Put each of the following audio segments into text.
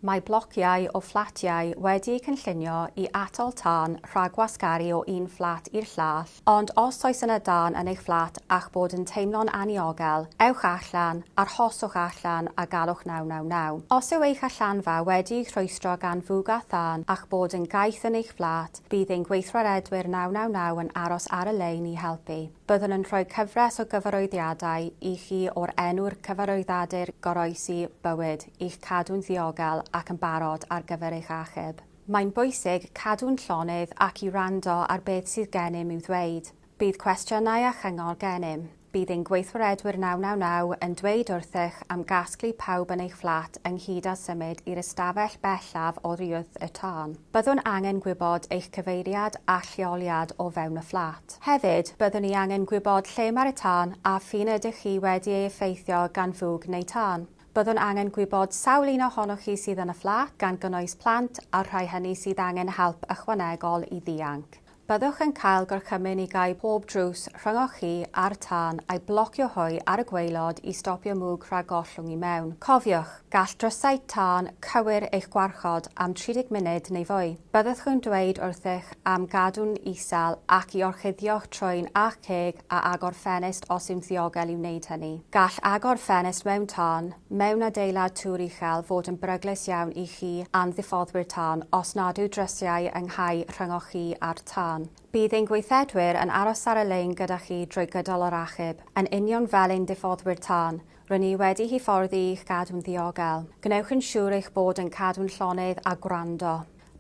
Mae blociau o fflatiau wedi'u cynllunio i atal tân rhag gwasgaru o un fflat i'r llall, ond os oes yna dân yn eich fflat a'ch bod yn teimlo'n anniogel, ewch allan, arhoswch allan a galwch 999. Os yw eich allanfa wedi'i rhwystro gan fwg a thân a'ch bod yn gaeth yn eich fflat, bydd ein gweithredwyr 999 yn aros ar y lein i helpu. Byddwn yn rhoi cyfres o gyfarwyddiadau i chi o'r enw'r cyfarwyddadur goroesi bywyd, i'ch cadw'n ddiogel ac yn barod ar gyfer eich achub. Mae'n bwysig cadw'n llonydd ac i wrando ar beth sydd gennym i'w ddweud. Bydd cwestiynau a chyngor gennym. Bydd ein gweithwaredwyr 999 yn dweud wrthych am gasglu pawb yn eich fflat ynghyd â symud i'r ystafell bellaf oddi wrth y tân. Byddwn angen gwybod eich cyfeiriad a'ch lleoliad o fewn y fflat. Hefyd, byddwn ni angen gwybod lle mae'r tân a ph'un ydych chi wedi ei effeithio gan fwg neu tân. Byddwn angen gwybod sawl un ohonoch chi sydd yn y fflat, gan gynnwys plant a'r rhai hynny sydd angen help ychwanegol i ddianc. Byddwch yn cael gorchymyn i gau pob drws rhyngoch chi a'r tân a'i blocio hwy ar y gwaelod i stopio mwg rhag gollwng i mewn. Cofiwch, gall drysau tân cywir eich gwarchod am 30 munud neu fwy. Byddwch yn dweud wrthych am gadw'n isel ac i orchuddio'ch trwyn a'ch ceg a agor ffenest os yw'n ddiogel i wneud hynny. Gall agor ffenest mewn tân, mewn adeilad tŵr uchel, fod yn beryglus iawn i chi a'n ddiffoddwyr tân os nad yw drysiau yng nghau rhyngoch chi a'r tân. Bydd ein gweithredwyr yn aros ar y lein gyda chi drwy gydol yr achub, yn union fel ein diffoddwyr tân. Rŷn ni wedi hyfforddi i'ch gadw'n ddiogel. Gwnewch yn siŵr eich bod yn cadw'n llonydd a gwrando.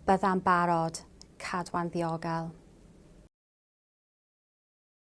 Byddai'n barod. Cadwa'n ddiogel.